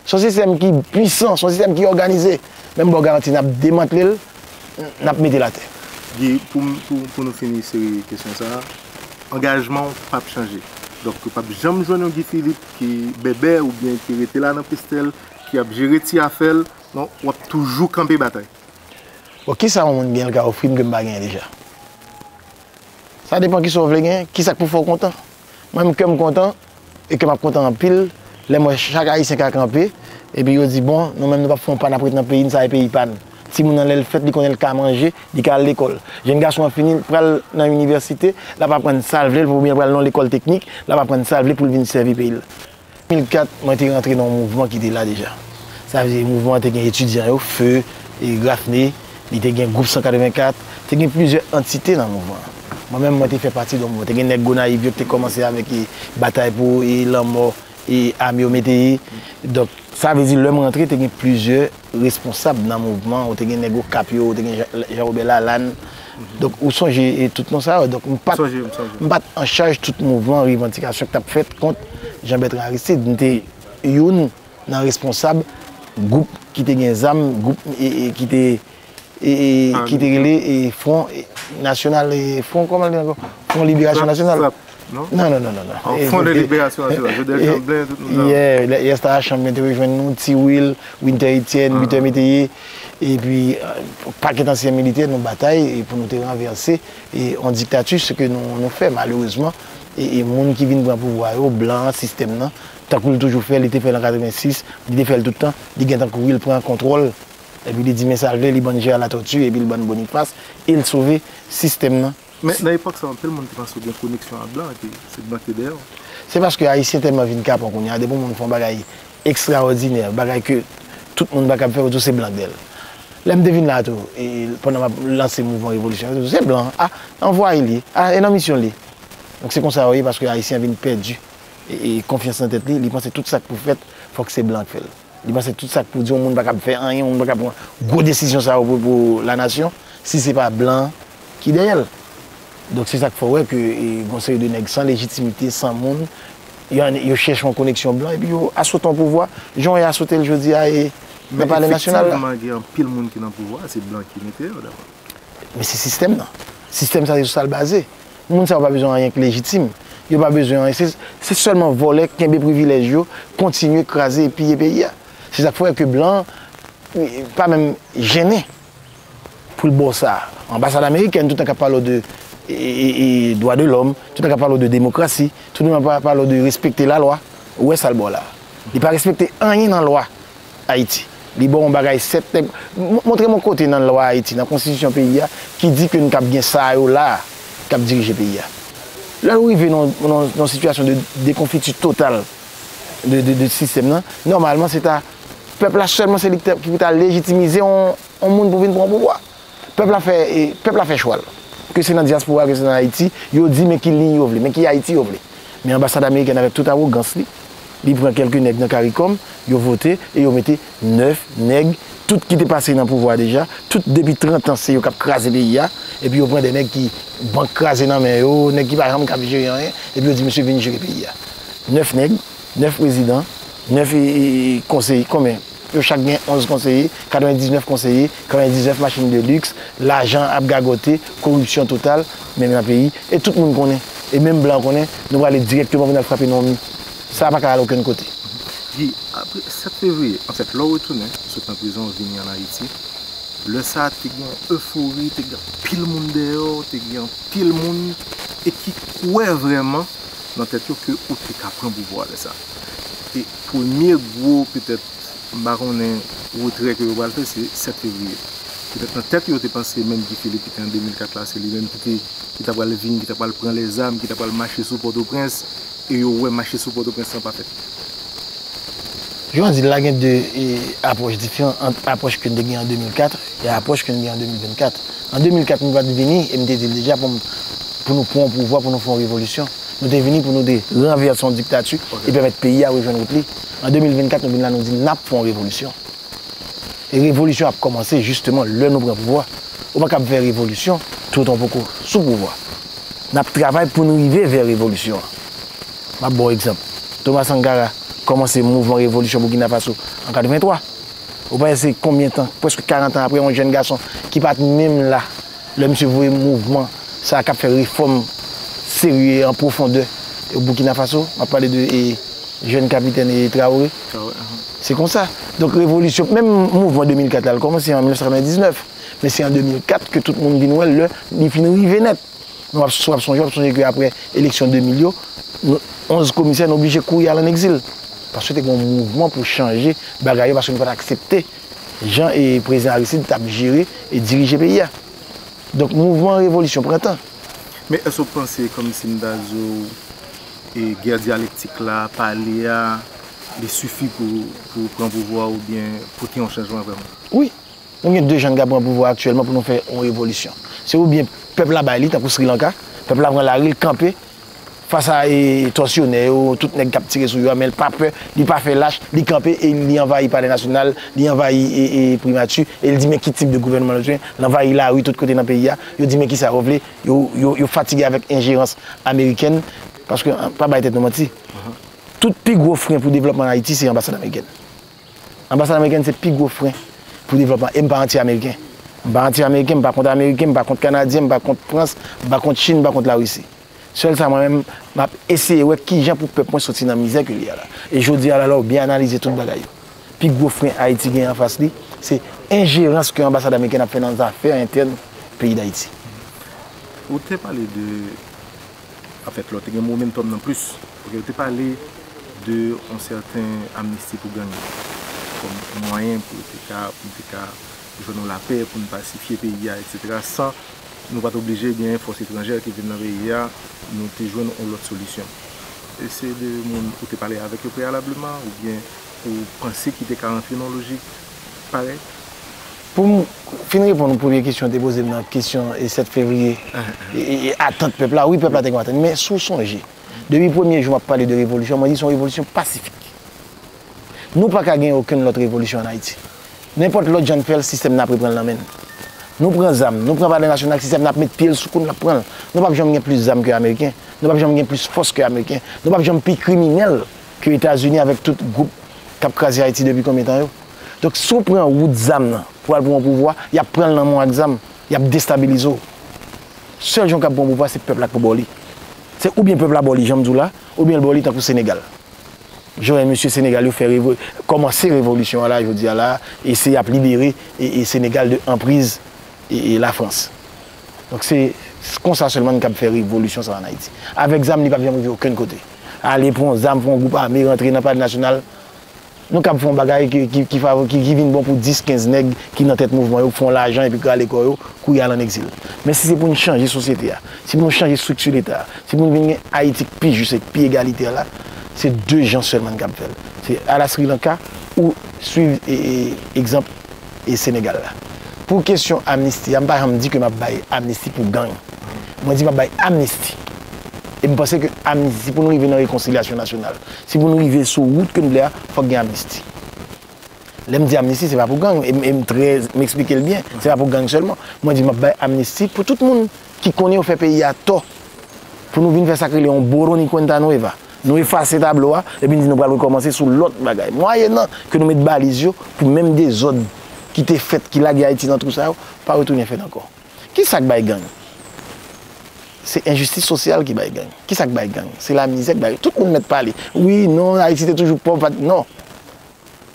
Son sistèm ki pwisan, son sistèm ki òganize, men m ba w garanti n ap demantle l, n ap mete l atè. Guy, pou nou fini seri kesyon sa a, angajman w p ap chanje. Donk yo p ap janm jwenn yon Guy Philippe ki bèbè oubyen ki rete la nan pestèl, ki ap jere ti afè l, non, w ap toujou kanpe batay. Bon, ki sa yon moun genyen l ka ofri m ke m pa genyen deja? Sa depan ki sa w vle genyen, ki sa k pou fè w kontan? Mwen menm kè m kontan, e kè m ap kontan anpil lè m wè chak Ayisyen ka kanpe epi yo di bon nou menm nou p ap fè yon pa n ap ret nan peyi n sa e peyi pa n. Timoun nan lè l fèt li konnen l ka manje, li ka al lekòl. Jenn gason an fini l pral nan inivèsite, l ap aprann sa l vle oubyen l pral nan yon lekòl teknik, l ap aprann sa l vle pou l vin sèvi peyi l. 2004, mwen te rantre nan yon mouvman ki te la deja. Sa vle di mouvman an te gen etidyan yo, feu, Graffney. Li te gen gwoup 184, te gen plizyè antite nan mouvman an. Mwen menm mwen te fè pati de yon mouvman. Te gen nèg Gonayiv yo ki te kòmanse avèk batay pou lanmò ame yo mete ye. Donk, sa vle di lè m rantre te gen plizyè responsab nan mouvman an. Ou te gen nèg Okap yo, ou te gen Jean Robert Lalanne. Donk, ou sonje tout non sa yo. Donk, m pa t anchaj tout mouvman revandikasyon ki t ap fèt kont Jean Bertrand Aristide. M te youn. nan responsab gwoup ki te gen zam gwoup ki te ki te rele fwon nasyonal fwon kòman li ankò fwon liberasyon nasyonal frap nan nan nan fwon de liberasyon nasyonal jodel chanblen tout moun nan yè yè stara chanblen te rejwenn nou ti wil wintè etyèn bitè meteyè epi pakèt ansyen militè nou batay pou nou te ranvèse yon diktati se ke nou fè malerezman e moun ki vin pran pouvwa yo blan sistèm nan Tankou li toujou fè, li te fè l an 86, li te fè l tout tan, li gen tan kouri, li pran kontwòl, epi li di men sa l vle, li ban Jè a Latòti, epi li ban Bonifas, e l sove sistèm nan. Men, nan epòk sa yo, anpil moun te panse w gen koneksyon ak blan, epi se blan ki te dèyè w. Se paske Ayisyen tèlman vin kapon kounye a, depi yon moun fè yon bagay ekstraòdinè, yon bagay ke tout moun pa kab fè, yo di w se blan k dèyè l. Lè m te vin la a tou, e pandan m ap lanse mouvman revolisyon an, yo te di w se blan an, a, anvwaye l ye, a, e nan misyon l ye. Donk se konsa yo ye, paske Ayisyen an vin pèdi Konfyans nan tèt li, li panse tout sa k pou fèt fòk se blan k fè l. Li panse tout sa k pou di yon moun pa kab fè anyen, yon moun pa kab pran gwo desizyon sa yo pou lanasyon si se pa blan ki dèyè l. Donk se sa k fè w wè ke gon seri de nèg san lejitimite, san moun, yo chèche yon koneksyon blan epi yo asote yon pouvwa jan yo asote l jodi a nan palè nasyonal la. Men efektivman gen anpil moun ki nan pouvwa a se blan ki mete yo dabò. Men se sistèm nan. Sistèm sa se sou sa l baze. Moun sa yo pa bezwen anyen ki lejitim. Yo pa bezwen anyen. Se sèlman vòlè, kenbe privilèj yo, kontinye kraze e piye peyi a. Se sa k fè ke blan pa menm jennen pou l ba w sa. Anbasad amerikèn toutan k ap pale w de dwa de lòm, toutan k ap pale w de demokrasi, toutan k ap pale w de respekte lalwa, ou wè sa l ba w la. Li pa respekte anyen nan lwa. Ayiti. Li ba w yon bagay 7 nèg. Montre m yon kote nan lwa Ayiti, nan konstitisyon peyi a, ki di ke nou kab gen sa yo la a k ap dirije peyi a. Lè ou rive nan yon sitiyasyon de dekonfiti total de sistèm nan, nòmalman se ta pèp la sèlman se li ki pou ta lejitimize yon moun pou vin pran pouvwa. Pèp la fè pèp la fè chwal. Ke se nan dyaspora ke se nan Ayiti, yo di men ki liy yo vle, men ki Ayiti yo vle. Men anbasad amerikèn avèk tout awogans li, li pran kèlke nèg nan caricom, yo vote e yo mete 9 nèg, tout ki te pase nan pouvwa deja, tout depi 30 ans se yo kap kraze peyi a, epi yo pran 2 nèg ki bank kraze nan men yo, nèg ki pa janm kap jere anyen, epi yo di misye vin jere peyi a. 9 nèg, 9 prezidan, 9 konseye, konbyen? Yo chak gen 11 konseye, 99 konseye, 99 machin de lux, lajan ap gagote, koripsyon total menm nan peyi e tout moun konnen e menm blan konnen nou prale direkteman pou nal frape nan mi. Sa paka al okenn kote. Guy, apre 7 fevriye, anfèt lè w retounen sot nan prizon w vini an Ayiti, lè sa te gen eufori, te gen anpil moun dèyè w, te gen anpil moun e ki kwè vrèman nan tèt yo ke ou te ka pran pouvwa lè sa. e premye gwo petèt m pa konnen retrè ke yo pral fè se 7 fevriye. Petèt nan tèt yo te panse menm Guy Philippe ki te an 2004 la se li menm ki te ki ta pral vin ki ta pral pran lèzam ki ta pral mache sou Pòtoprens e yo wè mache sou Pòtoprens lan pa fèt. Jounen jodi la gen 2 apwòch diferan ant apwòch ke n te gen an 2004 e apwòch ke n gen an 2024. An 2004 nou pa t vini e m te di l deja pou m pou nou pran pouvwa pou nou fè yon revolisyon. Nou te vini pou nou te ranvèse yon diktati e pèmèt peyi a rejwenn wout li. An 2024, nou vin la nou di n ap fè yon revolisyon. E revolisyon an ap kòmanse jisteman lè nou pran pouvwa. Ou pa kab fè revolisyon tou tan w poko sou pouvwa. N ap travay pou n rive vè revolisyon an. M ap ba w egzanp. Thomas Sankara kòmanse mouvman revolisyon Boukina Faso an 83. Ou panse se konbyen tan, prèske 40 an aprè yon jèn gason ki pa t menm la Lè misye voye mouvman sa a k ap fè refòm serye an pwofondè o Boukina Faso, m ap pale de jèn kapitèn Traore, se konsa. Donk revolisyon, menm mouvman 2004 la, l kòmanse an 1999, men se an 2004 ke tout moun vin wè lè li fin rive nèt. Nou ap si w ap sonje, w ap sonje ke apre eleksyon 2000 yo, 11 komisè nou oblije kouri al an egzil, paske te gen yon mouvman pou chanje bagay yo, paske nou pa t aksepte Jan e prezidan Aristide tap jere e dirije peyi a. Donk mouvman revolisyon pran tan. Men èske w panse kòmsim ta di w e gè dyalektik la, pale a, li sifi pou pou pran pouvwa a oubyen pote yon chanjman vrèman? Wi. Nou gen 2 jan n ka pran pouvwa aktyèlman pou nou fè yon revolisyon. Se oubyen pèp la bay li tankou Sri Lanka, pèp la pran lari l kanpe. Fas a tòsyonè yo, tout nèg k ap tire sou yo a, men l pa pè, li pa fè lach, li kanpe e li anvayi Palè Nasyonal, li anvayi Primati e l di men ki tip de gouvènman l bezwen, l anvayi lari tout kote nan peyi a, yo di men ki sa yo vle, yo fatige avèk enjerans amerikèn, paske pa bay tèt nou manti, tout pi gwo fren pou devlòpman Ayiti se anbasad amerikèn. Anbasad amerikèn se pi gwo fren pou devlòpman e m pa anti ameriken. M pa anti ameriken, m pa kont ameriken, m pa kont kanadyen, m pa kont frans, m pa kont chine, m pa kont larisi. Sèl sa mwen menm m ap eseye wè kijan pou pèp mwen soti nan mizè ke li a la. E jodi a la lè w byen analize tout bagay yo, pi gwo fren Ayiti genyen anfas li se enjerans ke anbasad amerikèn ap fè nan zafè entèn peyi Dayiti. Ou te pale de An fèt lò te gen momentum nan plis. Ok yo te pale de yon sèten amnisti pou gang yo. Kòm yon mwayen pou yo te ka, pou nou te ka jwenn yon lapè, pou nou pasifye peyi a etc. San nou pat oblije gen fòs etranjè ki vin nan peyi a, nou te jwenn yon lòt solisyon. E se de moun ou te pale avèk yo preyalableman oubyen ou panse ki te ka rantre nan yon lojik parèy? Pou m fin reponn ou premye kesyon ou te poze m nan, kesyon 7 fevriye e atant pèp la, wi pèp la te gen yon atant. Men si w sonje, depi premye jou m ap pale de revolisyon, mwen di se yon revolisyon pasifik. Nou pa ka gen okenn lòt revolisyon ann Ayiti. Nenpòt lòt jan n fè l, sistèm nan ap repran l nan men n. Nou pran zam, nou pran palè nasyonal, sistèm nan ap met pye l sou kou n, l ap pran l. Nou pap janm gen plis zam ke ameriken, nou pap janm gen plis fòs ke ameriken, nou pap janm pi kriminèl. Ke etazini avèk tout group kap kraze ayiti depi konbyen tan yo. Donk si w pran wout zam nan pou al pou yon pouvwa yap pranl nan men w ak zam yap destabilize w. Sèl jan w kab pran yon pouvwa se pèp la k pou ba w li. Se oubyen pèp la ba w li janm di w la oubyen l ba w li tankou senegal. Jan w wè mesye senegal yo fè revo kòmanse revolisyon an la jodi a la e se yap libere senegal de anpriz la frans. Donk se konsa sèlman n kab fè revolisyon sa an ayiti. Avèk zam li pap janm rive okenn kote. Ale pran zam pou yon gwoup ame rantre nan palè nasyonal, nou kab fè yon bagay ki vin bon pou 10, 15 nèg ki nan tèt mouvman yo, k fè yon lajan epi kale kò yo, kouri al an egzil. Men si se pou n chanje sosyete a, si pou nou chanje estrikti Leta a, si pou n vin gen Ayiti k pi jis e k pi egalitè la, se 2 jan sèlman n kab fè l. Se ala Sri Lanka ou swiv egzanp e Senegal la. Pou kesyon amnisti a, m pa janm di ke m ap bay amnisti pou gang. Mwen di m ap bay amnisti. E m panse ke amnisti, si pou nou rive nan rekonsilyasyon nasyonal, si pou nou rive sou wout ke nou vle a, fòk gen amnisti. Lè m di amnisti, se pa pou gang, e m trè, m eksplike l byen, se pa pou gang sèlman. Mwen di m ap bay amnisti pou tout moun ki konnen yo fè peyi a tò, pou nou vin fè sa k rele yon boroni kwenta nweva, Nou efase tablo a, epi n di nou pral rekòmanse sou lòt bagay. Mwayennan ke nou met baliz yo pou menm dezòd ki te fèt, ki lage Ayiti nan twou sa yo, pa retounen fèt ankò. Ki sa k bay gang? Se enjistis sosyal ki bay gang. Ki sa k bay gang? Se lamizè k bay. Tout moun mèt pale. Wi, non, Ayiti te toujou pòv, pa t. Non!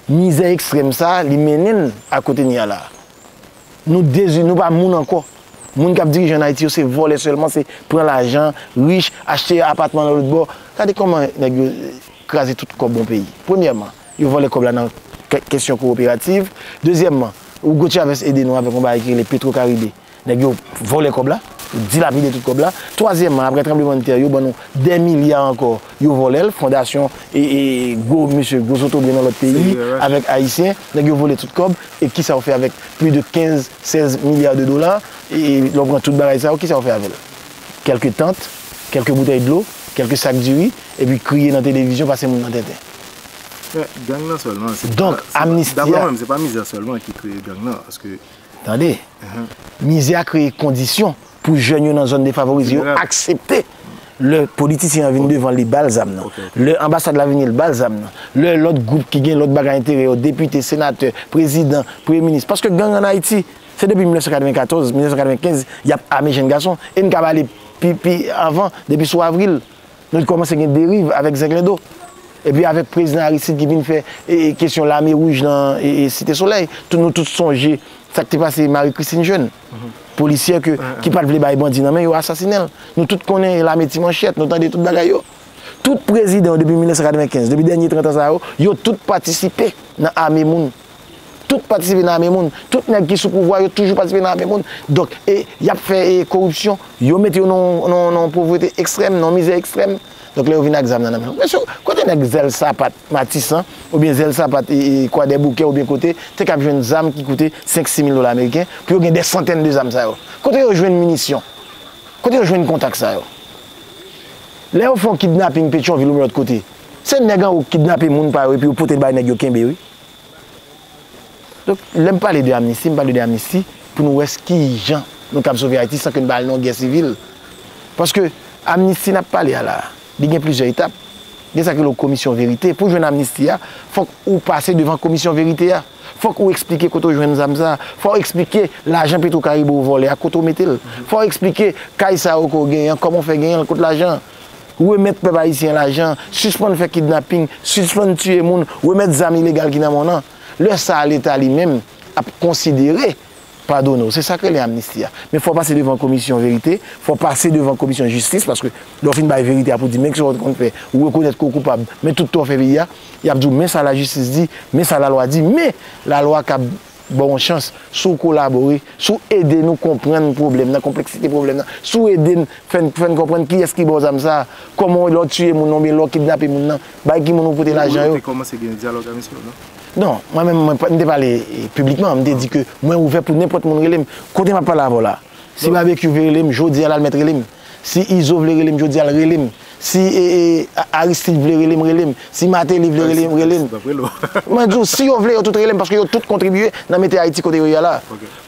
Mizè ekstrèm sa a, li mennen n a kote n ye a la a. Nou dezini, nou pa moun ankò. Moun k ap dirije ann Ayiti yo se vòlè sèlman, se pran lajan, rich, achte apatman nan lòt bò. Gade kòman nèg yo kraze tout kòb on peyi. Premyèman, yo vòlè kòb la nan kesyon kowoperativ. Dezyèmman, Hugo Chavez ede nou avèk on bagay ki rele Petrocaribe. Nèg yo vòlè kòb la, yo dilapide tout kòb la. Twazyèmman, apre tranblemann tè yo ban nou dè milya ankò Yo volel fondasyon e gwo mesye gwo zotobre nan lot peyi avek ayisyen neg yo vole tout kob e kisa ou fe avek pli de 15 16 milya de dola e le ou pran tout bagay sa yo kisa ou fe avel kelke tant kelke boutey dlo kelke sak diri epi kriye nan televizyon pase moun nan tenten donk amnisti a tande mizè a kreye kondisyon pou jèn yo nan zòn defavorize yo aksepte lè politisyen an vin devan li ba l zam nan, lè anbasad la vini l ba l zam nan, lè lòt gwoup ki gen lòt bagay enterè yo, depite, senatè, prezidan, premye minis. Paske gang an Ayiti, se depi 1994, 1995, y ap ame jenn gason. E n kab ale pi anvan, depi sou avril, nou kòmanse gen deriv avèk zenglendo. Epi avèk prezidan Aristide ki vin fè kesyon lame wouj nan Site Solèy, nou tout sonje sa k te pase Marie Christine Jeune. Polisyè ki pat vle bay bandi nan men yo asasinenl. Nou tout konnen e lame ti manchèt, nou tande tout bagay yo. Tout prezidan yo depi 1995, depi dènye 30 an sa yo, yo tout patisipe nan ame moun. Tout patisipe nan ame moun. Tout nèg ki sou pouvwa yo toujou patisipe nan ame moun. Donk e yap fè e koripsyon, yo mete yo nan yon povrete ekstrèm, nan yon mizè ekstrèm. Donk lè yo vin ak zam nan nan men yo. Mesye, kote nèg zèl sapat Matisan, oubyen zèl sapat Kwadèboukè oubyen kote, te kab jwenn zam ki koute 5, 6 mil dola ameriken, pou yo gen dè santèn de zam sa yo? Kote yo jwenn minisyon? Kote yo jwenn kontak sa yo? Lè yo fè yon kidnaping Petyonvil oubyen lòt kote, se nèg anwo ki kidnape moun pa yo epi yo pote l bay nèg yo kenbe wi. Donk, lè m pale de amnisti, m pale de amnisti pou nou wè ki jan nou kab sove Ayiti san ke n pa al nan yon gè sivil. Paske, amnisti n ap pale a la, li gen plizyè etap. Gen sa ki rele komisyon verite. Pou jwenn amnisti a, fòk ou pase devan komisyon verite a. Fòk ou eksplike kote ou jwenn zam sa a. Fò ou eksplike lajan Petwokaribe ou vòlè a, kote ou mete l. Fò ou eksplike kay sa yo ke ou genyen an, kòman ou fè genyen l, kot lajan an. Remèt pèp ayisyen lajan an, sispann fè kidnaping, sispann tiye moun, remèt zam ilegal ki nan mòn an. Lè sa a leta li menm ap konsidere padone w. Se sa k rele amnisti a. Men fò w pase devan komisyon verite, fò w pase devan komisyon jistis paske lè w fin bay verite a pou di men kisa w te konn fè, ou rekonèt ke w koupab, men tout tò w fè peyi a, y ap di w men sa lajistis di, men sa lalwa di, men lalwa kab. ba w yon chans, si w kolabore, si w ede nou konprann pwoblèm nan, konpleksite pwoblèm nan, si w ede n fè n fè n konprann kiyès ki ba w zam sa a, kòman lè w tiye moun nan oubyen lè w kidnape moun nan, bay ki moun ou pote lajan yo. Ou te kòmanse gen dyalòg a misye ou non? Non, mwen menm mwen, m te pale piblikman, m te di ke mwen ouvè pou nenpòt moun rele m, kote m ap pale avè w la a. Si Babekyou vle rele m jodi a la l mèt rele m. Si Izo vle rele m jodi a l rele m. Si Aristide vle rele m rele m. Si Martelly vle rele m rele m. Mwen di w si yo vle yo tout rele m paske yo tout kontribiye nan mete Ayiti kote yo ye a la.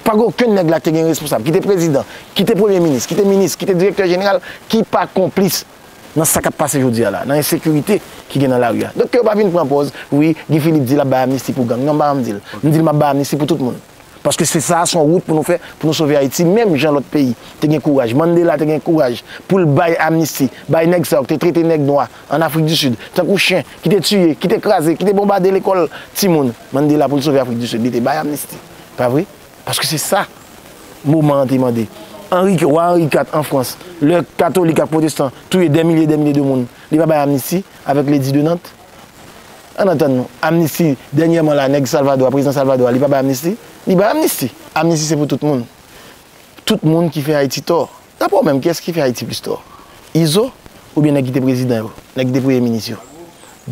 Pa gen okenn nèg la ki te gen responsab, ki te prezidan, ki te premye minis, ki te minis, ki te direktè jeneral ki pa konplis nan sa k ap pase jodi a la, nan ensekirite ki gen nan lari a. Donk ke yo pa vin pran pòz wi Guy Philippe di l ap bay amnisti pou gang. Non m pa janm di l. M di l m ap bay amnisti pou tout moun. Paske se sa a son wout pou nou fè pou nou sove Ayiti menm jan lòt peyi te gen kouraj. Mandela te gen kouraj pou l bay amnisti bay nèg sa yo ki te trete nèg nwa an Afrik di Sid tankou chen, ki te tiye, ki te kraze, ki te bonbade lekòl timoun. Mandela pou l sove Afrik di Sid li te bay amnisti. Pa vre? Paske se sa moman an te mande. Anri, Wa Anri 4 an Frans, lè katolik ak pwotestan touye dè milye dè milye de moun, li pa bay amnisti avèk Lady de Nantes? An antann nou, amnisti, dènyèman la nèg Salvadò a, prezidan Salvadò a, li pa bay amnisti? Li bay amnisti. Amnisti se pou tout moun. Tout moun ki fè Ayiti tò. Dapre w menm, kiyès ki fè Ayiti plis tò? Izo oubyen nèg ki te prezidan yo? Nèg ki te premye minis yo?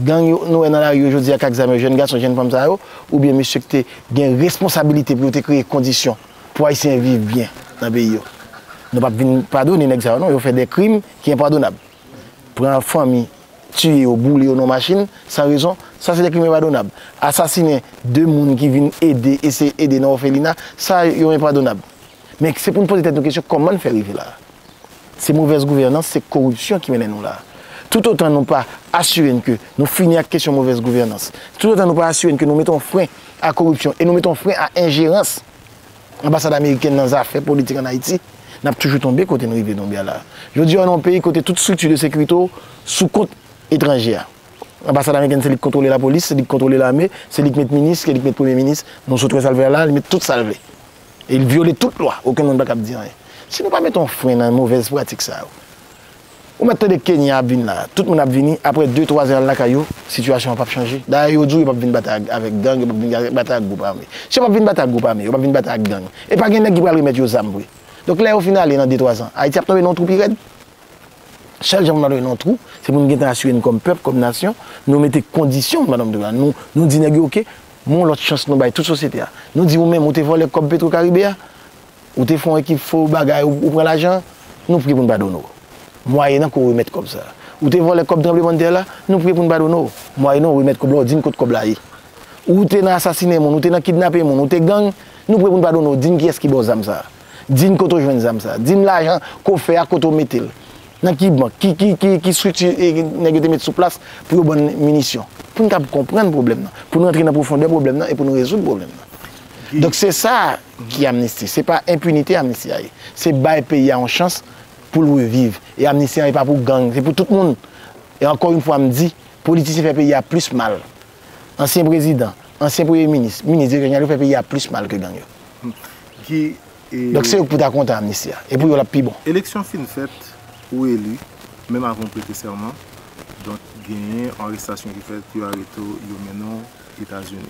Gang yo nou wè nan lari yo jodi a k ak zam yo, jèn gason, jèn fanm sa yo oubyen mesye k te gen responsabilite pou yo te kreye kondisyon pou Ayisyen viv byen nan peyi yo? Nou p ap vin padone nèg sa yo non, yo fè de krim ki enpadonab. pran fanmi, tiye yo, boule yo nan yon machin san rezon, sa se de krim enpadonab. Asasinen 2 moun ki vin ede, eseye ede nan òfelina, sa yo enpadonab. Men se pou n poze tèt nou kesyon kòman n fè rive la a? Se movèz gouvènans, se koripsyon ki mennen nou la a. Toutotan nou pa asire n ke nou fini ak kesyon movèz gouvènans, toutotan nou pa asire n ke nou mete yon fren a koripsyon e nou mete yon fren a enjerans, Anbasad amerikèn nan zafè politik an Ayiti, n ap toujou tonbe kote n rive tonbe a la a. Jodi a w nan yon peyi kote tout strikti de sekirite w sou kont etranje a. Anbasad amerikèn se li k kontwole lapolis, se li k kontwole lame, se li k met minis, se li k met premye minis, nou sot wè sa l fè a la a, li met tout sa l vle. E li vyole tout lwa, okenn moun pa kab di anyen. Si nou pa mete yon fren nan movèz pratik sa yo, Ou mèt tande Kenya ap vin la. Tout moun ap vini, aprè 2 3 zan yal lakay yo, sitiyasyon an pap chanje. Dayè yo di w yo pap vin batay ak avèk gang, yo pap vin batay ak gwoup ame. Si yo pap vin batay ak gwoup ame, yo pap vin batay ak gang, e pa gen nèg ki pral remèt yo zam vre. Donk lè yo fin ale nan 2 3 zan, Ayiti ap tonbe nan yon twou pi rèd. Sèl jan pou n pa tonbe nan yon twou, se pou n gentan asire n kòm pèp, kòm nasyon, nou mete kondisyon pou n pa tonbe nan twou sa. Nou nou di nèg yo ok, men yon lòt chans nou bay tout sosyete a. Nou di ou menm ou te vòlè kòb Petro Karibe a, Ou te fon ekip fo bagay ou pran lajan, nou pré poun padone w. Mwayenan ke w remèt kòb sa. Ou te vòlè kòb tranblemann tè la, nou pré poun padone w. Mwayenan w remèt kòb la w di n kot kòb la ye. Ou te nan asasine moun, ou te nan kidnape moun, ou te gang, nou pré poun padone w. Di n kiyès ki ba w zam sa. Di n kote w jwenn zam sa. Di n lajan ke w fè a kote w mete l. Nan ki bank, ki strikti nèg yo te met sou plas pou yo ban n minisyon. Pou n kab konprann pwoblèm nan. Pou n rantre nan pwofondè pwoblèm nan e pou n rezoud pwoblèm nan. Donk se sa. Ki amnisti? Se pa enpinite amnisti a ye. Se bay peyi a yon chans pou l reviv. E amnisti an e pa pou gang, se pou tout moun. E ankò yon fwa m di, politisyen fè peyi a plis mal. Ansyen prezidan, ansyen premye minis, minis, direktè jeneral yo fè peyi a plis mal ke gang yo. Donk se yo ki pou ta kontan amnisti a. E pou yo l ap pi bon. Eleksyon fin fèt, ou eli, menm avan w prete sèman. Donk genyen arestasyon ki fèt, yo arete w, yo mennen w Etazini.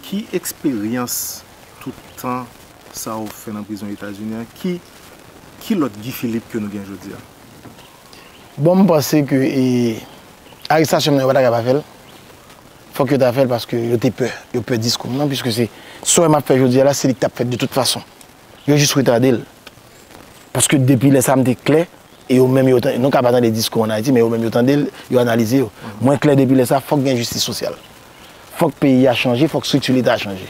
Ki eksperyans tout tan sa ou fè nan prizon Etazini an ki ki lòt Guy Philippe ke nou gen jodi a? Bon m panse ke e arestasyon m nan yo pa ta ka pa fè l, fòk yo ta fè l paske yo te pè, yo pè diskou m nan piske se sa w wè m ap fè jodi a la se li k t ap fèt de tout fason. Yo jis retade l paske depi lè sa m te klè e yo menm yo ta, nou ka pa tande diskou an Ayiti men yo menm yo tande l, yo analize yo. Mwen klè depi lè sa fòk gen jistis sosyal. Fòk peyi a chanje, fòk strikti leta a chanje.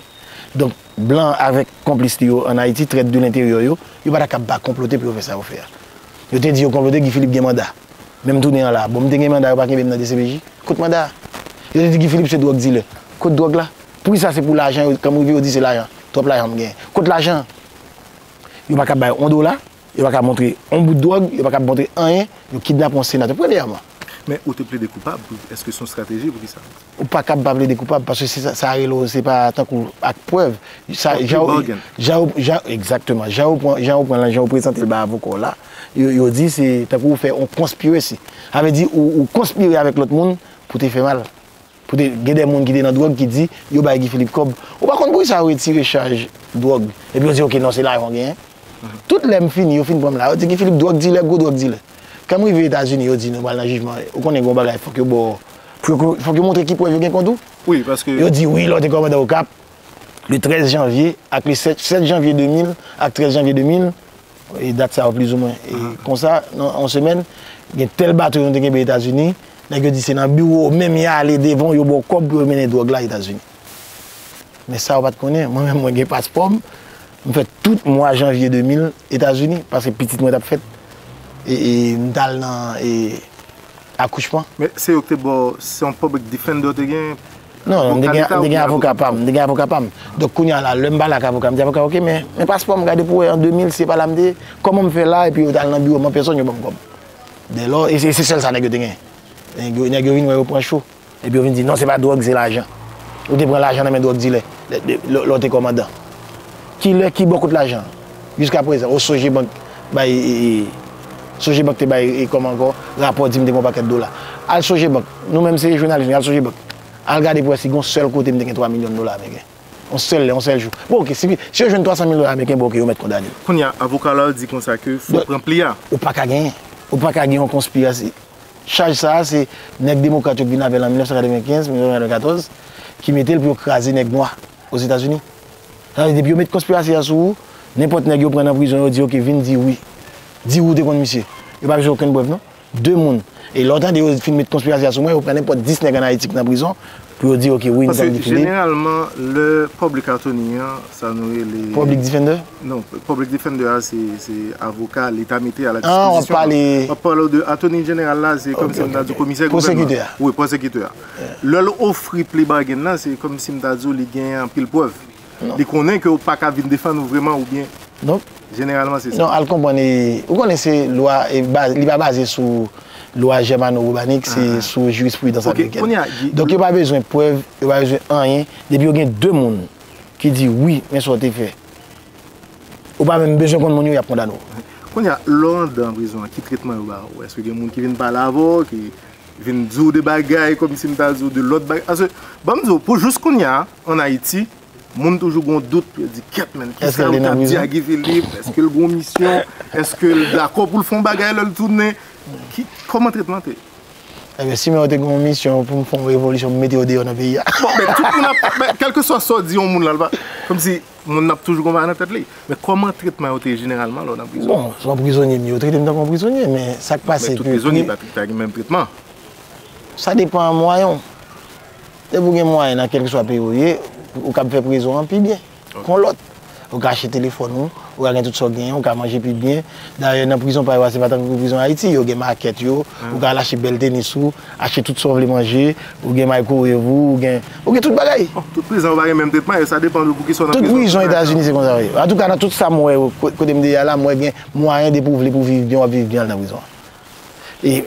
Donk, blan avèk konplis li yo ann Ayiti, trèt de lenteryè yo, yo pa ta kab pa konplote pou yo fè sa yo fè a. Yo te di yo konplote, Guy Philippe gen manda. Men m tounen an la a. Bon, m te gen manda, yo pa kenbe m nan dcpj? Kot manda a? Yo te di Guy Philippe se dwòg dilè. Kot dwòg la? Poukisa se pou lajan yo, kan m rive yo di se lajan, twòp lajan m genyen. Kot lajan an? Yo pa kab bay on dola. Yo pa ka montre yon bout dwòg, yo pa kab montre anyen, yo kidnape yon senatè. Premyèman. Men ou te plede koupab, èske se yon strateji, poukisa? Ou pa kab pa plede koupab, paske se sa rele yo, se pa tankou ak prèv. Sa Yon jan plea yo, bargain. jan yo, jan, egzakteman, jan yo pran, jan yo pran l lan, jan yo prezante l bay avoka w la, yo, yo di se tankou ou fè yon conspiracy. Sa vle di ou, ou konspire avèk lòt moun pou te fè mal. Kote gen de moun ki te nan dwòg ki di yo bay Guy Philippe kòb. Ou pa konn poukisa yo retire chaj dwòg. Epi yo di ok non se lajan w genyen. Tout lè m fini yo fin pran m la yo di Guy Philippe dwòg dilè gwo dwòg dilè. Kan m rive Etazini yo di nou pral nan jijman ou konnen gen yon bagay fòk yo ba w fòk yo montre ki prèv yo gen kont ou. Yo di wi lè w te kòmandan Okap le 13 janvye ak le 7 janvye 2000 ak 13 janvye 2000 E dat sa yo plizoumwen e konsa nan yon semèn gen tèl bato yon te genbe Etazini, nèg yo di se nan biwo w menm ya ale devan w yo ba w kòb pou yo mennen dwòg la Etazini. Men sa yo pa t konnen, mwen menm mwen gen paspò m, m fè tout mwa janvye 2000 Etazini paske pitit mwen t ap fèt e e m t al nan e akouchman. Men se yo k te ba w, se yon public defender w te gen, Non, non, m te gen avoka pa m, m te gen avoka pa m. Donk kounye a la, lè m pale ak avoka a, m di avoka a, ok, men, men paspò m, gade pou wè an 2000 si se pa la m te ye, kòman m fè la epi yo t al nan biwo m an pèsòn yo ban m kòb. Dèlò, e se sèl sa nèg yo te gen. Nèg yo, nèg yo vin wè yo pran cho. Epi yo vin di, non se pa dwòg, se lajan. Ou te pran lajan nan men dwòg dilè lè w te kòmandan. Ki lè, ki bò kot lajan an? Jiska prezan o soje bank bay soje bank te bay e kòman ankò rapò di m te gen yon pakèt dola al soje bank nou menm se jounalis nou ye al soje bank al gade pou wè si gen yon sèl kote m te gen 3 milyon dola ameriken yon sèl lè yon sèl jou bon ok si si yo jwenn 300 mil dola ameriken bon ok yo mèt kondane m. Kounye a avoka la di konsa ke fòk pran pli a. Ou pa ka genyen ou pa ka gen yon konspirasi chaj sa a se nèg demokrat yo ki vin avè l an 1995 1994 ki mete l pou yo kraze nèg nwa. Ozetazini. Sa vle di depi yo met konspirasi a sou ou, nenpòt nèg yo pran nan prizon yo di ok vin di wi. Di wi ou te konn misye. Yo pa bezwen okenn prèv non. 2 moun. E lè w tande yo fin met konspirasi a sou mwen, yo pran nenpòt 10 nèg an Ayiti ki nan prizon pou yo di ok wi m tann Guy Philippe. Paske jeneralman lè public attorney an, sa nou rele. Public defender? Non, public defender a se avoka leta mete a la dispozisyon. An, w ap pale. M ap pale w de attorney general la se kòmsi m ta di komisè gouvènman. Pwosekitè a. Wi, pwosekitè a. Lè l ofri plea bargain nan, se kòmsi m ta di w li gen anpil prèv. Li konnen ke w pa ka vin defann ou vreman oubyen? Non. Jeneralman se sa. Non, al konprann e, ou konnen se lwa e baz, li pa baze sou lwa jèmano-wobanik, se sou jirispridans amerikèn. Ok, kounye a, Guy. Donk yo pa bezwen prèv, yo pa bezwen anyen, depi yo gen 2 moun ki di wi, men sa w te fè. Ou pa menm bezwen konn moun yo, y ap kondane w. Kounye a, lè w andan prizon an, ki tretman yo ba w? Èske gen moun ki vin pale avè w, ki Vin di w de bagay kòmsi m ta di w de lòt bagay. Paske, ban m di w, pou jous kounye a, ann Ayiti, moun toujou gen yon dout, yo di, kèt menn, ki sa yo t ap di a Guy Philippe? Èske l gen yon misyon? Èske l dakò pou l fè yon bagay lè l tounen? Ki, kòman tret lan te? Enben, si men yo te gen yon misyon pou m fè yon revolisyon, m mete yo deyò nan peyi a. Bon, men, tout moun ap, men, kèlkeswa sa w di yon moun la, l pa, kòmsi, Moun ap toujou konpare nan tèt li. Men kòman tretman yo te ye jeneralman lè w nan prizon? Bon, se yon prizonye m ye, yo trete m tankou yon prizonye, men sa k pase ke pri. Men tout prizonye pa ta gen menm tretman. Sa depan mwayen w. Depi ou gen mwayen nan kèlkeswa peyi ou ye, ou kab fè prizon an pi byen kon lòt. Ou ka achte telefòn ou, ou ka gen tout sa w genyen, ou ka manje pi byen. Dayè nan prizon pa yo a se pa tankou prizon Ayiti, yo gen makèt yo, ou ka al achte bèl tenis ou. Achte tout sa w vle manje, ou gen microwave ou, ou gen, ou gen tout bagay. Bon, tout prizon yo pa gen menm tretman yo, sa depan de pou ki sa w nan prizon. Tout prizon Etazini se konsa wi. Antouka nan tout sa m wè yo, kote m deja la, m wè gen mwayen depi w vle pou w viv byen, w ap viv byen al nan prizon. E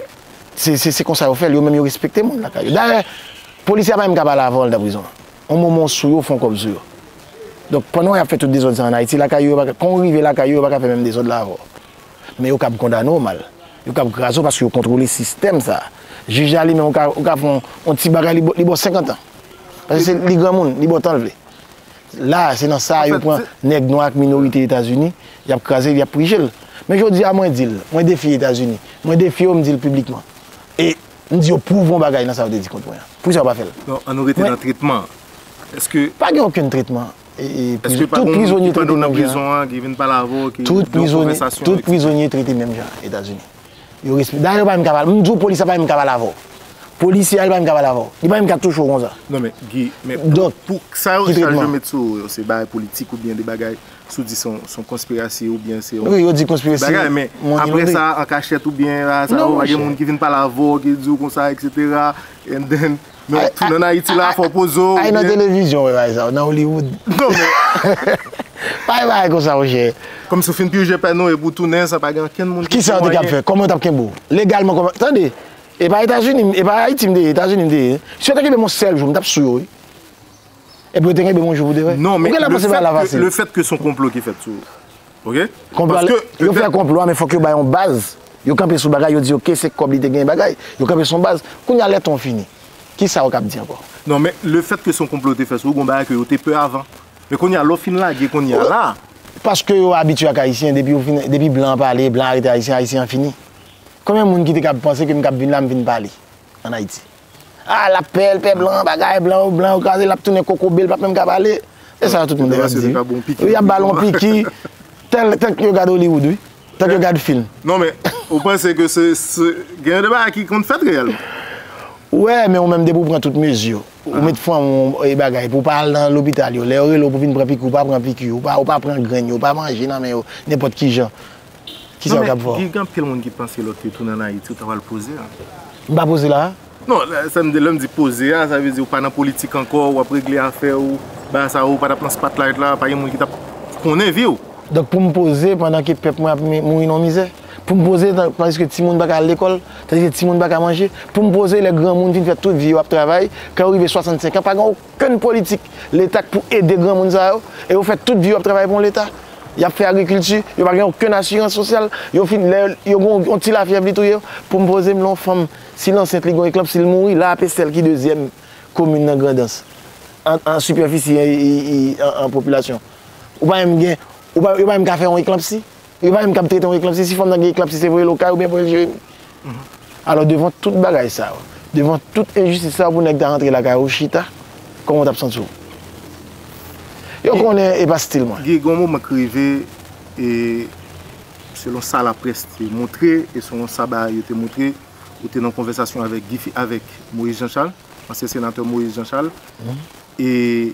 se se konsa yo fè l, yo menm yo respekte moun lakay yo. Dayè, polisye a pa menm ka pale avan w al nan prizon. On moman w sou yo, w fè yon kòb sou yo. Donk pandan y ap fè tout dezòd sa an Ayiti, lakay yo yo pa ka, kan w rive lakay yo, yo pa ka fè menm dezòd la avè w. men yo kab kondane w mal. Yo kab kraze w paske yo kontwole sistèm sa a. Jij la li menm ou ka fè yon ti bagay li ba w 50 an. Paske se li granmoun, li ba w tan l vle. La a se nan sa a yo pran nèg nwa ak minorite Etazini, y ap kraze l, y ap prije l. Men jodi a mwen di l, mwen defye Etazini, mwen defye yo m di l piblikman. E m di yo pwouve yon bagay nan sa yo te di kont mwen an. Poukisa yo pa fè l? An nou rete nan tretman an. Eske. Pa gen okenn tretman. Eske pa gon moun ki pran nou nan prizon an ki vin pale avè w ki gen yon konvèsasyon etc. Tout prizonye trete menm jan Etazini. Yo respè, dayè yo pa menm ka pale, m di w polis la pa menm ka pale avè w. Polisye a li pa menm ka pale avè w. Li pa menm ka touche w konsa. Non men Guy, men pou sa yo chak jou met sou ou yo se bagay politik ou byen de bagay sou di son konspirasi ou byen se yon bagay men apre sa an kachèt ou byen sa yo pa gen moun ki vin pale avè w ki di w konsa etc. And then. Men wap tounen Ayiti la fè w poze w. Ay nan televizyon wè bagay sa yo, nan Hollywood. Non men. Pa gen bagay konsa monchè. Kòmsi w fin purge pèn ou epi w tounen san pa gen ankenn moun ki di w anyen. Kisa w te kab fè? Kòman yo tap kenbe w? Legalman kòman. Tande! E pa Etazini m, e pa Ayiti m te ye, Etazini m te ye. Si yo te kenbe m yon sèl jou, m tap sou yo wi. Epi yo te kenbe m yon jou pou de vrè. Non men, lefèt ke son konplo ki fèt sou ou. Yo fè konplo a men fòk yo bay yon baz, yo kanpe sou bagay, yo di ok se kòb li te genyen bagay, yo kanpe sou yon baz. Kounya lè ton fini, kisa ou kab di ankò? Non men le fèt ke se yon konplo yo te fè sou ou, gon bagay ke yo te pè avan. Men kounya lè w fin lage kounya la. Paske yo abitye ak ayisyen, depi blan an pale, blan an arete ayisyen, ayisyen an fini. Konbyen moun ki te kab panse ke m kab vin la m vin pale an Ayiti? Ah lap pè el pè blan bagay blan yo blan yo kraze lap tounen kokobe li pap menm ka pale se sa tout moun te ap di wi yap bal on piki tel tank yo gad Hollywood wi tank yo gad film non men ou panse ke se gen de bagay ki konn fèt reyèlman wè men ou menm depi ou pran tout mezi ou met fanm ou e bagay pou pa al nan lopital yo lè yo rele w pou vin pran piki ou pa pran piki ou pa pran grenn yo ou pa manje nan men yo nenpòt kijan. Ki sa yo tap fè w? Gen anpil moun ki panse lòt yo tounen an Ayiti ou ta pral poze a. M pa poze la a? Non, sa m di, lè m di poze a, sa vle di ou pa nan politik ankò, ou ap regle afè ou, bay a sa yo, ou pa tap nan spotlight la, pa gen moun ki tap konnen vi w. Donk pou m poze pandan ke pèp mwen ap mouri nan mizè? Pou m poze tandiske timoun pa ka al lekòl, tandiske timoun pa ka manje? Pou m poze lè granmoun fin fè tout vi yo ap travay, kè yo rive 65 an pa gen. Ken politik leta k pou ede granmoun sa yo e yo fè tout vi yo ap travay pou yon leta yap fè agrikilti yo pa gen okenn asirans sosyal yo fin lè yo gen yon ti lafyèv li touye yo poum pozem lè yon fanm si l ansent li gen yon eklanp si l mouri la ap estèl ki dezyèm komin nan grandans an sipèfisi an popilasyon ou pa menm gen yo pa menm ka fè yon eklanpsi yo pa menm kab trete yon eklanpsi si fanm nan gen eklanpsi se voye l okay oubyen voye l jeremi. Alò devan tout bagay sa yo, devan tout enjistis sa yo pou nèg ta rantre lakay ou chita, kòman w tap santi w? Yo konnen e pa stil mwen. Guy, gen yon moman k rive e selon sa laprès te montre e selon sa bagay yo te montre, ou te nan konvèsasyon avèk Guy Philippe, avèk Moïse Jean Charles, ansyen senatè Moïse Jean Charles e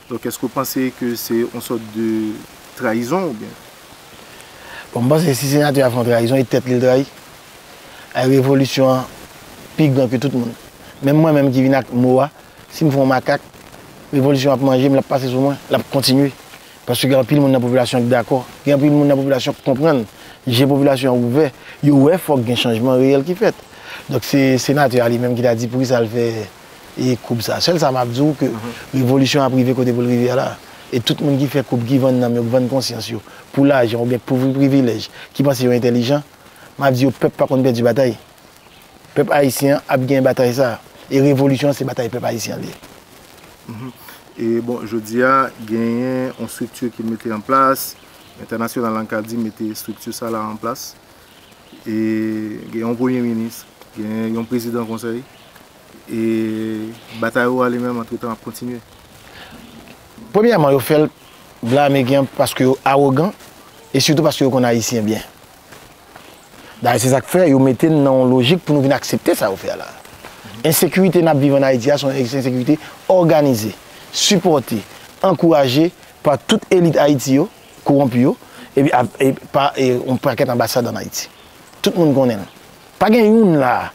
Donk eske ou panse ke se yon sòt de trayizon ou byen? Bon m panse si senatè a fè yon trayizon e tèt li l trayi. Ay revolisyon an pi gran ke tout moun. Menm mwen menm ki vin ak mo a, si m fè yon makak, revolisyon an ap manje m, l ap pase sou mwen, l ap kontinye. Paske gen anpil moun nan popilasyon an ki dakò. Gen anpil moun nan popilasyon an ki konprann. Je popilasyon an ouvè. Yo wè fòk gen chanjman reyèl ki fèt. Donk se senatè a li menm ki ta di poukisa l fè e koub sa. Sèl sa map di w ke revolisyon an ap rive kote pou l rive a la. E tout moun ki fè koub, ki vann nanm yo, ki vann konsyans yo pou lajan ou byen pou privilèj, ki panse yo entèlijan, map di yo pèp pa konn pèdi batay. Pèp ayisyen an ap genyen batay sa. E revolisyon an se batay pèp ayisyen an li ye. E bon, jodi a genyen yon strikti ki mete an plas, entènasyonal la n ka di mete strikti sa la an plas. e gen yon premye minis, gen yon prezidan konsèy e batay ou a li menm antretan ap kontinye. Premyèman yo fèl blamegan an paske yo awogan e sitou paske yo konn ayisyen byen. Dayè se sak fè yo mete n nan yon lojik pou nou vin aksepte sa yo fè a la. Ensekirite nap viv an Ayiti a se yon ensekirite òganize, sipòte, ankouraje pa tout elit Ayiti yo, Kowonpi yo, epi ap e pa e yon pakèt anbasad an Ayiti. Tout moun konnen l. Pa gen youn la a,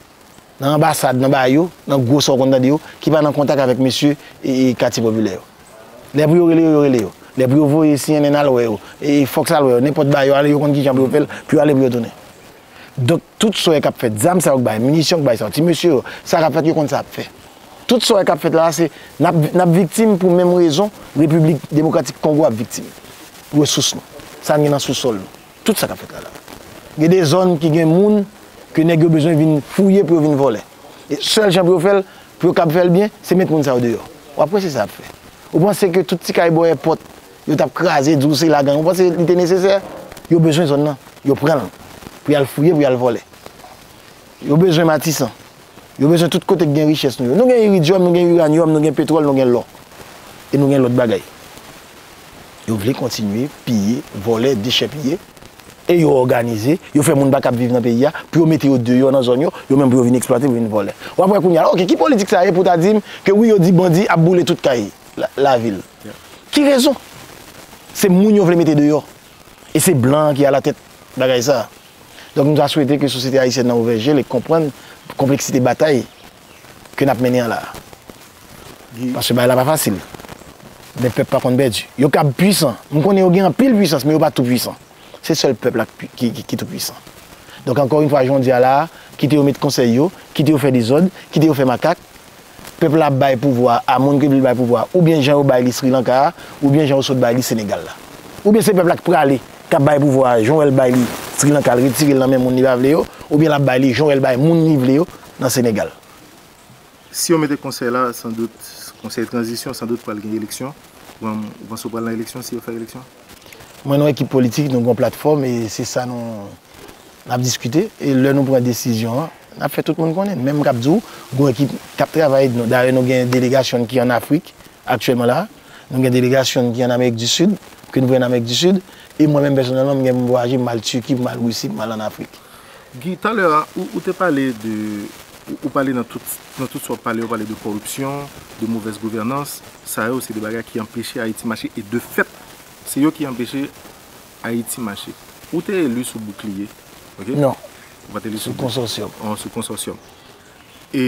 nan anbasad, nan ba yo, nan gwo sa w konn tande yo, ki pa nan kontak avèk mesye e e katye popilè yo. Lè pou yo rele yo, yo rele yo. Lè pou yo voye cnn al wè yo, e e Fox al wè yo, nenpòt ba yo ale, yo konn ki jan pou yo fè l, pou yo ale pou yo tounen. Donk tout soyè kap fèt, zam sa yo k bay, minisyon k bay sa yo, ti mesye yo, sa kap fèt yo konn sa yap fè. Tout soyè kap fèt la a se nap nap viktim pou menm rezon Repiblik Demokratik Kongo ap viktim. Resous nou, sa n gen nan sousòl nou, tout sa kap fèt la la. Gen de zòn ki gen moun ke nèg yo bezwen vin fouye pou yo vin vòlè. E sèl jan pou yo fè l, pou yo kab fè l byen, se met moun sa yo deyò. Wap wè se sa yap fè. Ou panse ke tout ti kay bò èpòt Yo tap kraze di w se lagan. Ou panse li te nesesè? Yo bezwen zòn nan, yo pran l pou y al fouye, pou y al vòlè. Yo bezwen Matisan. Yo bezwen tout kote ki gen richès nou yo. Nou gen iridyòm, nou gen iranyòm, nou gen petwòl, nou gen lò. E nou gen lòt bagay. Yo vle kontinye piye, vòlè, dechèpiye. E yo òganize, yo fè moun pa kab viv nan peyi a, pou yo mete yo deyò nan zòn yo, yo menm pou yo vin eksplwate, pou yo vin vòlè. Wap wè kounye a, ok, ki politik sa ye pou w ta di m ke wi yo di bandi ap boule tout kay? lavil. Ki rezon? Se moun yo vle mete deyò. E se blan ki alatèt bagay sa. Donk nou ta swete ke sosyete ayisyèn nan ouvè je l e konprann konpleksite batay ke n ap mennen an la. Paske bagay la pa fasil. Men pèp pa konn pèdi. Yo kab pwisan. M konnen yo gen anpil pwisans men yo pa tou pwisan. Se sèl pèp la ki tou pwisan. Donk ankò yon fwa joun di a la a, kite yo met konsèy yo, kite yo fè dezòd, kite yo fè makak, pèp la ap bay pouvwa a moun ke vle bay pouvwa a oubyen jan yo bay li Sri Lanka a oubyen jan yo sot bay li Senegal la oubyen se pèp la ki prale kap bay pouvwa a jan wè l bay li Sri Lanka l retire l nan men moun li pa vle yo oubyen lap bay li jan wè l bay moun li vle yo nan Senegal. Si yo mete konsèy la san dout konsèy tranzisyon san dout pral gen eleksyon ou panse yo pral nan eleksyon si yo fè eleksyon? Mwen nan ekip politik nou gen yon platfòm e se sa nou N ap diskite, e lè nou pran desizyon an, n ap fè tout moun konnen. Men m kab di w, gwo ekip k ap travay ed nou. Dayè nou gen delegasyon n ki an Afrik aktyèlman la a. Nou gen delegasyon n ki an Amerik di Sid, ke nou voye nan Amerik di Sid. E mwen menm pèsonèlman, m gen pou m vwayaje, m al Tiki, m al Risi, m al an Afrik. Guy, talè a, ou te pale de, ou pale nan tout, nan tout sa w pale, ou pale de kòripsyon, de movèz gouvènans. Sa yo se de bagay ki anpeche Ayiti mache e de fèt, se yo ki anpeche Ayiti Mache. Ou te eli sou Boukliye? Non. Ou pa te eli sou Konsòsyòm. Ou sou Konsòsyòm. E,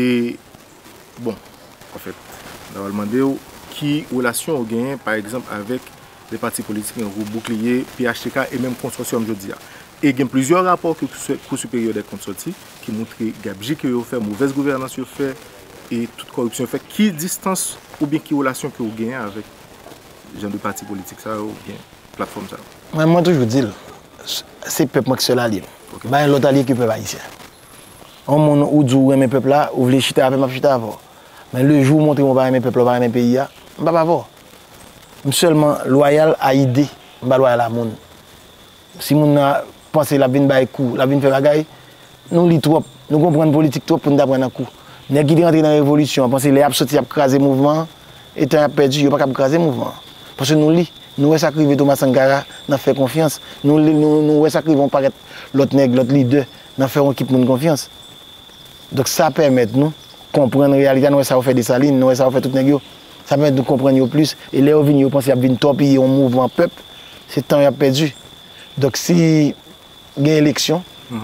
bon, anfèt, m ta pral mande ou ki relasyon ou genyen, pa egzanp, avèk lè pati politik nan gwoup Boukliye, phtk e menm Konsòsyòm jodi a. E gen plizyè rapò ke Kou Siperyè dè Kont soti ki montre gabji ke yo fè, movèz gouvènans yo fè e tout kòripsyon yo fè. Ki distans oubyen ki relasyon ke ou genyen avèk? Jan de pati politik sa yo oubyen platfòm sa yo. Mwen mwen toujou dil se pèp mwen ki sèl alye m ok pa gen lòt alye ke pèp ayisyen yon moun ou di ou renmen pèp la ou vle chita avèm map chita avè w men le jou ou montre m ou pa renmen pèp la ou pa renmen peyi a m pap avè w m sèlman lwayal a ide m pa lwayal a moun Si moun nan panse l ap vin bay kou, l ap vin fè bagay, nou li twòp, nou konprann politik twòp pou n ta pran nan kou. Nèg ki te rantre nan revolisyon an panse lè y ap soti y ap kraze mouvman an, e tan y ap pèdi, yo pa kab kraze mouvman an. Paske nou li, nou wè sa k rive Thomas Sankara nan fè konfyans, nou li, nou wè sa k rive yon pakèt lòt nèg, lòt lidè nan fè yon ekip moun konfyans. Donk sa pèmèt nou konprann reyalite a, nou wè sa yo fè Desalin, nou wè sa yo fè tout nèg yo. Sa pèmèt nou konprann yo plis. E lè yo vini, yo panse y ap vin tòpiye yon mouvman pèp. Se tan y ap pèdi. Donk si gen eleksyon,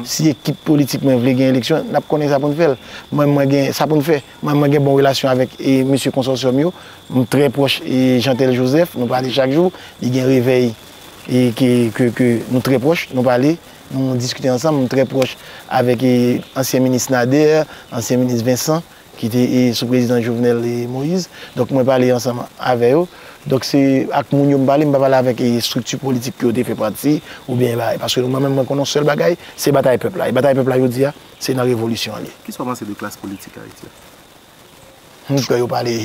si ekip politik mwen vle gen eleksyon, n ap konnen sa pou n fè l. Mwen menm mwen gen sa pou n fè. Mwen menm mwen gen bon relasyon avèk mesye konsòsyòm yo. M trè pwòch Jeantel Joseph. Nou pale chak jou. Li gen Revèy ke nou trè pwòch. Nou pale, nou diskite ansanm. M trè pwòch avèk ansyen minis Nader, ansyen minis Vincent. ki te sou prezidan Jovenel Moïse, donk mwen pale ansanm avè yo, donk se ak moun yo m pale, m pa pale avèk estrikti politik ke yo te fè pati, oubyen bay, paske mwen menm mwen konnen yon sèl bagay, se batay pèp la, e batay pèp la jodi a, se nan revolisyon an li. Kisa w panse de klas politik Ayiti a? M kwè yo pale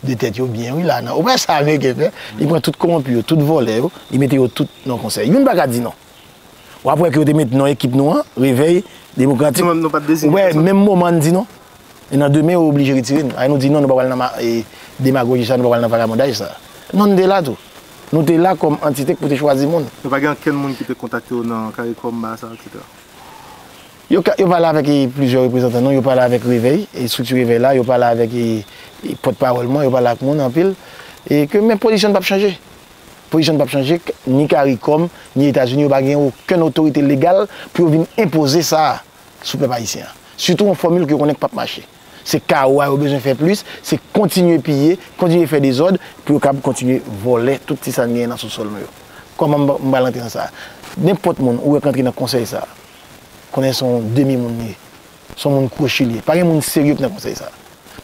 de tèt yo byen wi la, nan operasyon sa ameriken fè, li pran tout kowonpi yo, tout vòlè yo, li mete yo tout nan konsèy, youn pa ka di non. W ap wè ke yo te met non ekip nou an, Revèy Demokratik. Nou menm nou pa t deziyen pèsonn. Wè, menm moman n di non. E nan demen yo oblije retire n. Ay nou di non nou pa pral nan demagoji sa, nou pa pral nan vagabondaj sa. Non n te la tou. Nou te la kòm antite k pou te chwazi moun. E pa gen ankenn moun ki te kontakte w nan Karikom, Basa, etc? Yo pale avèk plizyè reprezantan nou. Yo pale avèk Revèy, estrikti Revèy la. Yo pale avèk pòtpawòl mwen. Yo pale ak moun anpil. E ke men pozisyon n pa p chanje. Pozisyon n pap chanje k, ni caricom, ni Etazini yo pa gen okenn otorite legal pou yo vin enpoze sa a sou pèp ayisyen an. Sitou yon fòmil ke yo konnen k pap mache. Se kawo a yo bezwen fè plis, se kontinye piye, kontinye fè dezòd pou yo kab kontinye vòlè tout ti sa n genyen nan sousòl nou yo. Kòman m pral antre nan sa a? Nenpòt moun ou wè k antre nan konsèy sa a, konnen se yon demi moun li ye. Se yon moun kwochi li ye. Pa gen moun serye ki nan konsèy sa.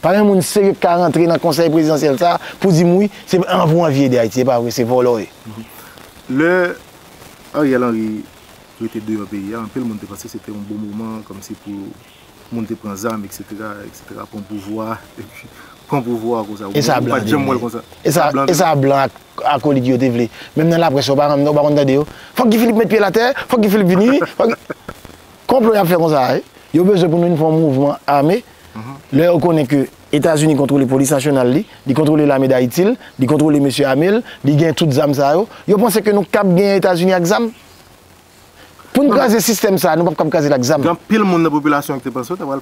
Pa gen moun serye ki ka rantre nan konsèy prezidansyèl sa pou di m wi, se an pou anvi ede Ayiti. Se pa vre, se vòlò yo ye. Lè Ariel Henry rete deyò peyi a, anpil moun te panse se te yon bon moman kòmsi pou moun te pran zam eksetera, eksetera, pran pouvwa, epi pran pouvwa konsa. E sa blan te vle? Ou pa janm wè l konsa. E sa blan ak. Akolit yo te vle. Menm nan laprès yo pa renmn yo pa konn tande yo. Fòk Guy Philippe met pye l atè, fòk Guy Philippe vini, fòk Konplo y ap fè konsa a wi. Yo bezwen pou nou vin fè yon mouvman ame lè yo konnen ke Etazini kontwole polis nasyonal li, li kontwole lame Dayiti l, li kontwole mesye ame l, li gen tout zam sa yo. Yo panse ke nou kab genyen Etazini ak zam? Pou n kraze sistèm sa a, nou pap kab kraze l ak zam. Gen anpil moun nan popilasyon an ki te panse yo ta pral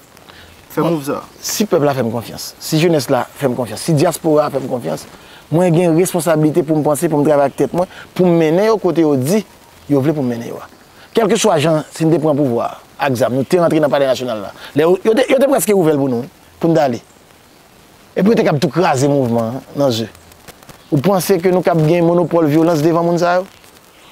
fè move sa a. Si pèp la fè m konfyans, si jenès la fè m konfyans, si dyaspora a fè m konfyans, mwen gen responsablite pou m panse, pou m travay ak tèt mwen, pou m mennen yo kote yo di yo vle pou m mennen yo a. Kèlkeswa jan, si n te pran pouvwa a ak zam, nou te rantre nan palè nasyonal la, lè yo, yo te, yo te prèske ouvè l pou nou wi, pou n t ale. Epi yo te kab tou kraze mouvman an nan ze. Ou panse ke nou kab gen monopòl vyolans devan moun sa yo?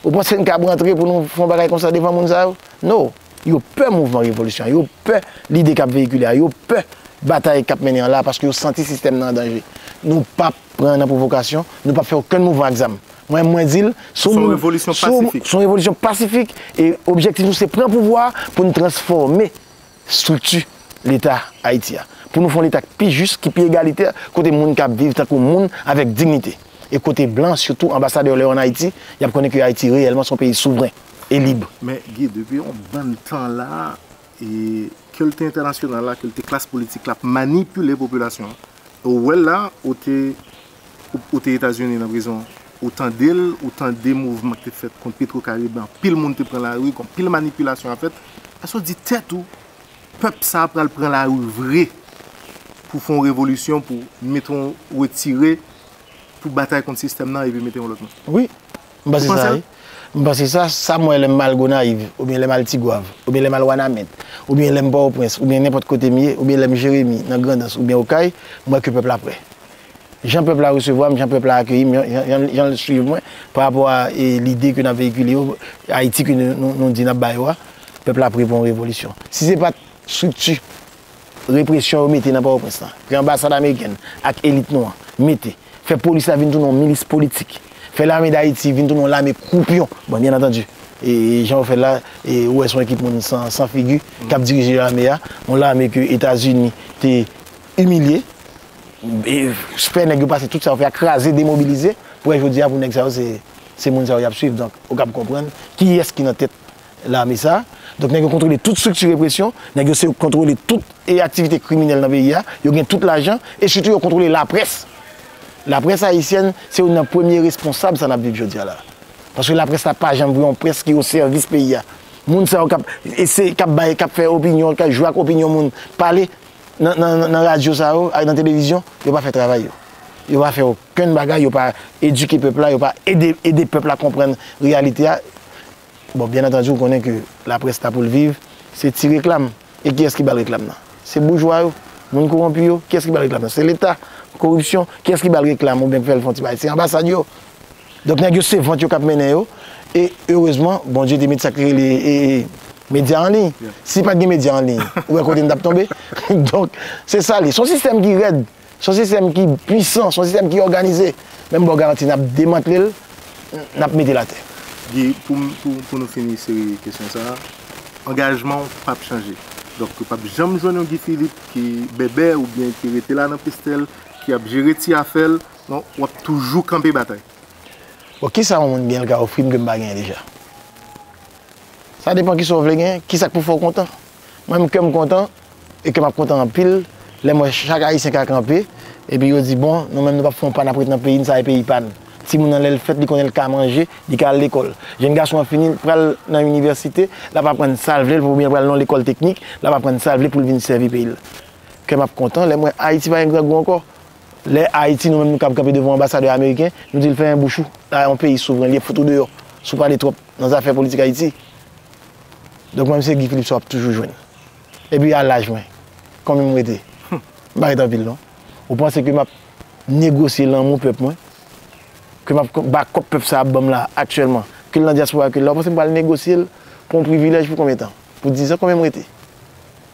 Ou panse n kab rantre pou nou fè yon bagay konsa devan moun sa yo? No! Yo pè mouvman revolisyon an, yo pè lide k ap veyikile a, yo pè batay k ap mennen an la a paske yo santi sistèm nan an danje. Nou p ap pran nan pwovokasyon, nou p ap fè okenn mouvman ak zam. Mwen menm mwen di l, si yon moun, si yon moun, se yon revolisyon pasifik e objektif nou se pran pouvwa a pou n transfòme strikti Leta Ayiti a, pou nou fè yon Leta k pi jis, ki pi egalitè, kote moun ka ap viv tankou moun, avèk dignite, e kote blan, sitou anbasadè yo lè yo ann Ayiti, y ap konnen ke Ayiti reyèlman s on peyi souvren e lib. Men Guy, depi yon bann tan la, ke l te entènasyonal la, ke l te klas politik la, ap manipile popilasyon an. Ou wè l la, ou te Ou te Etazini nan prizon an? Ou tande l, ou tande mouvman ki te fèt kont Petrocaribe la, anpil moun te pran lari, gon pil manipilasyon ap fèt. Èske ou di tèt ou, pèp sa a pral pran lari vre pou fè yon revolisyon, pou mete yon retire, pou batay kont sistèm nan epi mete yon lòt moun? Wi, m panse sa wi. M panse sa. Sa m wè lè m al Gonayiv, oubyen lè m al Tigwav, oubyen lè m al Wanament, oubyen lè m Pòtoprens, oubyen nenpòt kote m ye, oubyen lè m Jeremi, nan Grandans oubyen Okay, m wè ke pèp la prè. Jan pèp la resevwa m, jan pèp la akeyi m, jan l swiv mwen pa rapò a lide ke n ap veyikile yo, Ayiti ke nou di n ap ba yo a, pèp la pre pou yon revolisyon. Si se pa t estrikti represyon yo mete nan Pòtoprens lan, ke anbasad amerikèn ak elit nou an mete, fè polis la vin tounen yon milis politik, fè lame dAyiti vin tounen yon lame kwoupyon, bon byen antandu, jan yo fè l la, ou wè se yon ekip moun san figi k ap dirije lame a, yon lame ke Etazini te imilye, Fè nèg yo pase tout sa yo fè a kraze demobilize pou wè jodi a pou nèg sa yo se moun sa yo y ap swiv donk ou kab konprann kiyès ki nan tèt lame sa donk nèg yo kontwole tout estrikti represyon nèg yo se kontwole tout e aktivite kriminèl nan peyi a yo gen tout lajan e sitou yo kontwole laprès laprès ayisyèn se youn nan premye responsab sa n ap viv jodi a la paske laprès la pa janm vre yon près ki osèvis peyi a moun sa yo k ap ese k ap bay k ap fè opinyon k ap jwe ak opinyon moun pale Nan radyo sa yo ak nan televizyon, yo pa fè travay yo. Yo pa fè okenn bagay, yo pa edike pèp la, yo pa ede pèp la konprann reyalite a. Bon, byen antandi ou konnen ke laprès la pou l viv, se ti reklam. E kiyès ki ba l reklam nan? Se boujwa yo, moun kowonpi yo. Kiyès ki ba l reklam nan? Se leta, koripsyon. Kiyès ki ba l reklam oubyen ki fè l fè yon ti bagay? Se anbasad yo. Donk nèg yo se vant yo kap mennen yo e erezman Bondye te met sak li rele medya an liy. Si pat gen medya an liy ou wè kote nou tap tonbe. Donk se sa li. Son sistèm ki rèd, son sistèm ki pwisan, son sistèm ki òganize men m baw garanti nap demantle l, nap mete l atè. Guy, pou nou fini seri kesyon sa, angajman w pap chanje. Donk yo pap janm jwenn yon Guy Philippe ki bèbè oubyen ki rete la nan pestèl, ki ap jere ti afè l. Non, w ap toujou kanpe batay. Bon, ki sa yon moun gen l ka ofri m ke m pa genyen deja? Sa depan ki sa w vle genyen, ki sa k pou fè w kontan. Mwen menm, kè m kontan e kè m ap kontan anpil lè m wè chak Ayisyen ka kanpe epi yo di, bon, nou menm nou p ap fè yon pa n ap ret nan peyi n, sa e peyi pa n. Timoun nan lè l fèt, li konnen l ka manje, li ka al lekòl. Jenn gason an fini, l pral nan inivèsite, l ap aprann sa l vle, oubyen l pral nan yon lekòl teknik, l ap aprann sa l vle pou l vin sèvi peyi l. Kè m ap kontan lè m wè Ayiti pa gen grangou ankò. Lè Ayiti nou menm nou kab kanpe devan yon anbasadè ameriken, nou di l fèmen bouch ou, la a yon peyi souvren, li ap fout ou deyò si w pale twòp nan zafè politik Ayiti. Donk mwen se Guy Philippe sa w ap toujou jwenn. Epi a laj mwen, konbyen m rete? M pa rete anpil non. Ou panse ke m ap negosye lanmou pèp mwen, ke m ap bakòp pèp sa ap ban m la aktyèlman, ke l nan dyaspora, ke l la, ou panse m pral negosye l pou yon privilèj pou konbyen tan? Pou dizan? Konbyen m rete?